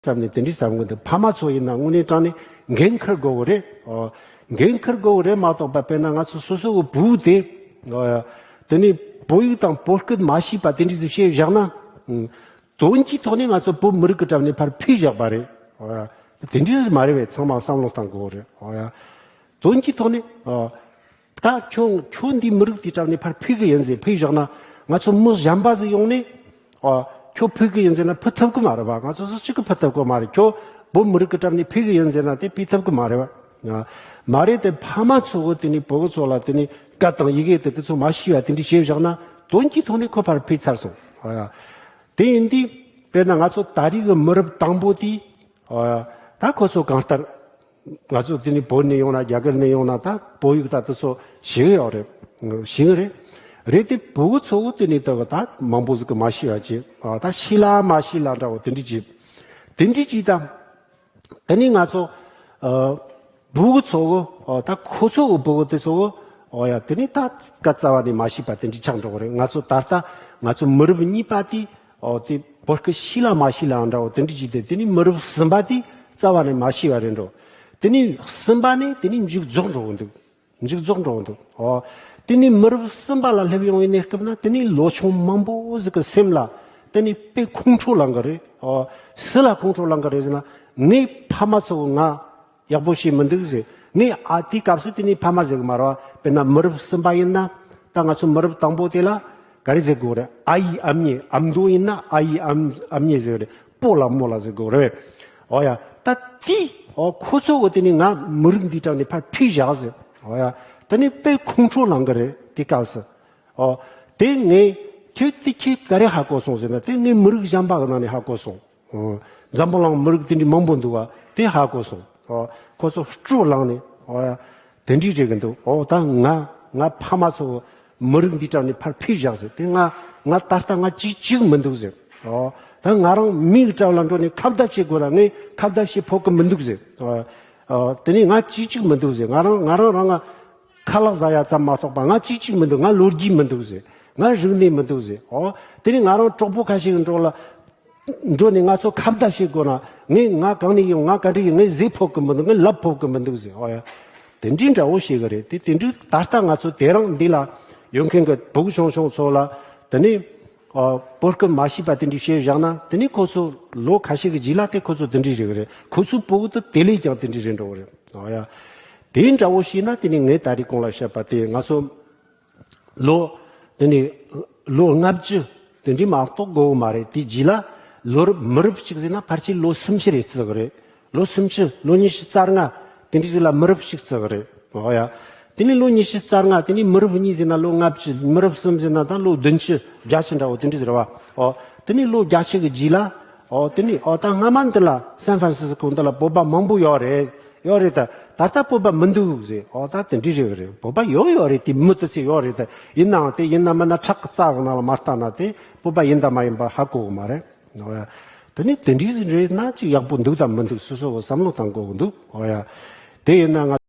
བསམ་ནས་དེ་འདྲའི་ཟབ་མགོན་དེ་ཕ་མ་ཚོ་ཡིན་ན་དངོས་གནས་དྲང་ནས་འགན་འཁུར་དགོས་གི་རེད། འགན་འཁུར་དགོས་གི་རེད་མ་གཏོགས་པ་དཔེར་ན་ང་ཚོ་སོ་སོ་གི་བུ་དེ། དེ་ནས་བོད་ཡིག་དང་བོད་སྐད་མ་ཤེས་པ་དེ་འདྲས་སུ་བཤད་བཞག་ན། དོན་གྱི་ཐོག་ནས་ང་ཚོ་བོད་མི་རིགས་ཀྱི་གྲབས་ནས་ཕར་ཕུད་བཞག་པ་རེད། དེ་འདྲས་སུ་མ་རེད་བས་ཚང་མ་བསམ་བློ་བཏང་དགོས་གི་རེད། དོན་གྱི་ཐོག་ནས། ད་ཁྱོད་ཁྱོད་འདིའི་མི་རིགས་དེ་དྲངས་ནས་ཕར་ཕུད་གི་ཡིན་ཟེར་ཕུད་བཞག་ན་ང་ཚོ་མི་གཞན་པ་ཟིག་ཡོང་ནས་ཨོ་ཁྱོད་ཕུད་གི་ཡིན་ཟེར་ན་ཕུད་ཐུབ་གི་མ་རེད་པ་ང་ཚོ་སུ་གཅིག་གི་ཕུད་ཐུབ་གི་མ་རེད་ཁྱོད་བོད་མི་རིགས་ཀྱི་གྲབས་ནས་ཕུད་གི་ཡིན་ཟེར་ན་དེ་ཕུད་ཐུབ་གི་མ་རེད་པ། མ་རེད་དེ་ཕ་མ་ཚོ་གི་དེ་ནས་བུ་གི་ཚོ་ལ་དེ་ནས་སྐད་དང་ཡི་གེ་དེ་དེ་ཚོ་མ་ཤེས་པ་དེ་འདྲས་བྱེད་བཞག་ན་དོན་གྱི་ཐོག་ནས་ཁོ་ཕར་ཕུད་ཚར་སོང། དེ་ཡིན་དུས་དཔེར་ན་ང་ཚོ་ད་རིས་གི་མི་རབས་དང་པོ་དེས་ད་ཁོ་ཚོ་གང་ལྟར། ང་ཚོ་དེ་ནི་བོད་ནས་ཡོང་ན་རྒྱ་གར་ནས་ཡོང་ན་ད་བོད་ཡིག་ད་དུ་ཚོ་ཞིག་ཡོད་རེད་ཞིག་རེད། རེད་དེ་བོད་གི་ཚོ་བོ་དེ་ནི་ད་ད་མང་པོ་ཟིག་གི་མ་ཤི་བ་ཅི་ད་ཤི་ལ་མ་ཤི་ལ་འདྲ་བོ་དེ་འདྲི་ཅི་དེ་འདྲི་ཅི་ད། དེ་ནི་ང་ཚོ་བོད་གི་ཚོ་བོ་ད་ཁོ་ཚོ་གི་བོད་གི་དེ་ཚོ་བོ་ཨོ་ཡ་དེ་ནི་ད་ཀ་རྩ་བ་ནས་མ་ཤི་བ་དེ་འདྲི་ཆགས་འགྲོ་གི་རེད་ང་ཚོ་ད་ལྟ་ང་ཚོ་མི་རབས་གཉིས་པ་དེ་འོ་དེ་བོད་སྐད་ཤེས་ལ་མ་ཤེས་ལའང་འདྲའོ་དེ་འདྲའི་ཇི་སྟེ་དེ་ནི་མི་རབས་གསུམ་པ་དེས་རྩ་བ་ནས་མ་ཤེས་པ་རེད་འགྲོ། དེ་ནི་གསུམ་པ་ནས་དེ་ནི་མཇུག་རྫོགས་འགྲོ་གི་འདུག་མཇུག་རྫོགས་འགྲོ་གི་འདུག་འོ། དེ་ནི་མི་རབས་གསུམ་པ་ལ་སླེབས་ཡོང་བའི་གནས་སྐབས་ན་དེ་ནི་ལོ་ཆུང་མང་པོ་ཟིག་གི་སེམས་ལ་དེ་ནི་དཔེ་ཁུངས་འཕྲོ་ལངས་གི་རེད་འོ། སུ་ལ་ཁུངས་འཕྲོ་ལངས་གི་རེད་ཟེར་ན་ངའི་ཕ་མ་ཚོ་ང་ཡག་པོ་བྱས་མི་འདུག་ཟེར། ངས་ཨ་དེའི་སྐབས་སུ་དེ་ནི་ཕ་མ་ཟེར་གི་མ་རེད། དཔེར་ན་མི་རབས་གསུམ་པ་ཡིན་ན། ད་ང་ཚོ་མི་རབས་དང་པོ་དེ་ལ། ག་རེ་ཟེར་དགོས་རེད། ཨ་ཡི་ཨམ་ཉེ་ཨམ་མདོ་ཡིན་ན་ཨ་ཡི་ཨམ་ཨམ་ཉེ་ཟེར་རེད། པོ་ལ་མོ་ལ་ཟེར་དགོས་རེད། ཨོ་ཡ། ད་དེ། ཨོ་ཁོ་ཚོ་འོ་དེ་ནི་ང་མི་རིགས་འདིའི་གྲངས་ནས་ཕར་ཕུད་བཞག་ཟེར། ཨོ་ཡ། ད་ནི་དཔེ་ཁོང་ཁྲོ་ལངས་གི་རེད་དེའི་སྐབས་སུ། ཨོ། དེ་ངས། ཁྱོད་དེ་ཁྱོད་ག་རེ་ཧ་གོ་སོང་ཟེར་ན་དེ་ངས་མི་རིགས་གཞན་པ་གི་ནང་ནས་ཧ་གོ་སོང། འཛམ་བུ་གླང་མི་རིགས་དེ་འདྲའི་མང་པོ་འདུག་བ་དེ་ཧ་གོ་སོང། ཁོ་ཚོ་སྤྲོ་བསླངས་ནས་དེ་འདྲའི་རེད་གི་འདུག་འོ་ད་ང་ང་ཕ་མ་ཚོ་མི་རིགས་འདི་དྲངས་ནས་ཕར་ཕེབས་བཞག་ཟེར་དེ་ང་ང་ད་ལྟ་ང་ཅི་གཅིག་མི་འདུག་ཟེར། ད་ང་རང་མི་ཡི་བཀྲག་ལ་འགྲོ་ནས་ཁ་བརྡ་བྱེད་དགོས་ར་ངས་ཁ་བརྡ་བྱེད་ཕོད་གི་མི་འདུག་ཟེར། དེ་ནས་ང་ཅི་གཅིག་མི་འདུག་ཟེར་ང་རང་ང་རང་རང་ང་ཁ་ལག་བཟའ་ཡ་ཙམ་མ་གཏོགས་པ་ང་ཅི་གཅིག་མི་འདུག་ང་ལོ་རྒྱུས་མི་འདུག་ཟེར་ང་རིག་གནས་མི་འདུག་ཟེར། དེ་ནས་ང་རང་གྲོགས་པོ་ཁ་ཤས་ཀྱི་འགྲོགས་ལ། འགྲོ་ནས་ང་ཚོ་ཁ་བརྡ་བྱེད་དགོས་ན་ངས་ང་གང་ནས་ཡིན་ང་ག་འདྲ་ཡིན་ངས་གཟིགས་ཕོད་ཀྱི་མི་འདུག་ངས་ལབ་ཕོད་ཀྱི་མི་འདུག་ཟེར་ཨོ་ཡ། དེ་འདྲའི་འདྲ་བོ་ཞིག་གི་རེད་དེ་དེ་འདྲའི་ད་ལྟ་ང་ཚོ་དེ་རིང་འདི་ལ་ཡོད་མཁན་གྱི་བུ་ཆུང་ཆུང་ཚོ་ལ་དེ་ནས་བོད་སྐད་མ་ཤེས་པ་དེ་འདྲའི་བཤད་བཞག་ན་དེ་ནས་ཁོ་ཚོ་ལོ་ཁ་ཤས་ཀྱི་རྗེས་ལ་དེ་ཁོ་ཚོ་དེ་འདྲའི་རེད་གི་རེད་ཁོ་ཚོའི་བུ་དེ་དེ་ལས་ཀྱང་དེ་འདྲའི་རེད་འགྲོ་གི་རེད་ཨོ་ཡ། དེ་འདྲ་བོ་ཤེས་ན་དེ་ནས་ངས་ད་རེས་ཁོང་ལ་བཤད་པ་དེ་ང་ཚོ། ལོ། དེ་ནས་ལོ་ལྔ་བཅུ། དེ་འདྲའི་མ་གཏོགས་དགོས་དགོས་མ་རེད། དེའི་རྗེས་ལ། ལོ་རབས་མི་རབས་ཤིག་ཟེར་ན་ཕར་ཆེར་ལོ་སུམ་ཅུ་རེ་བརྩི་གི་རེད། ལོ་སུམ་ཅུ། ལོ་ཉི་ཤུ་རྩ་ལྔ། དེ་འདྲའི་ཟེར་ལ་མི་རབས་ཤིག་བརྩི་གི་རེད། ཨོ་ཡ། དེ་ནས་ལོ་ཉི་ཤུ་རྩ་ལྔ། དེ་ནས་མི་རབས་གཉིས་ཟེར་ན་ལོ་ལྔ་བཅུ། མི་རབས་གསུམ་ཟེར་ན་ད་ལོ་བདུན་ཅུ། བརྒྱ་ཆ་འདྲ་བོ་དེ་འདྲའི་ཟེར་བ། ཨོ། དེ་ནས་ལོ་བརྒྱ་ཕྱེད་ཀྱི་རྗེས་ལ། ཨོ་དེ་ནི་ཨོ་ད་སྔ་མ་འདི་ལ་སན་ཧྥ་རན་སི་སི་ཀོ་འདི་ལ་བོད་པ་མང་པོ་ཡོད་རེད་ཡོད་རེད་ད་ད་ལྟ་བོད་པ་མི་འདུག་ཟེར་ཨོ་ད་དེ་འདྲས་རེད་བ་རེད་བོད་པ་ཡོད་ཡོད་རེད་དེ་མི་དེ་ཚོས་ཡོད་རེད་ད་ཡིན་ནའང་དེ་ཡིན་ནམ་མིན་ན་ཁྲག་གི་རྩ་གང་ན་ལ་མ་བརྟགས་ན་དེ་བོད་པ་ཡིན་དང་མ་ཡིན་པ་ཧ་གོ་གི་མ་རེད་ཨོ་ཡ། དེ་ནི་དེ་འདྲས་རེད་ན་ཅིག་ཡག་པོ་འདུག་དང་མི་འདུག་སོ་སོ་བོ་བསམ་བློ་བཏང་དགོས་གི་འདུག་ཨོ་ཡ། དེ་ཡིན་ན་ང།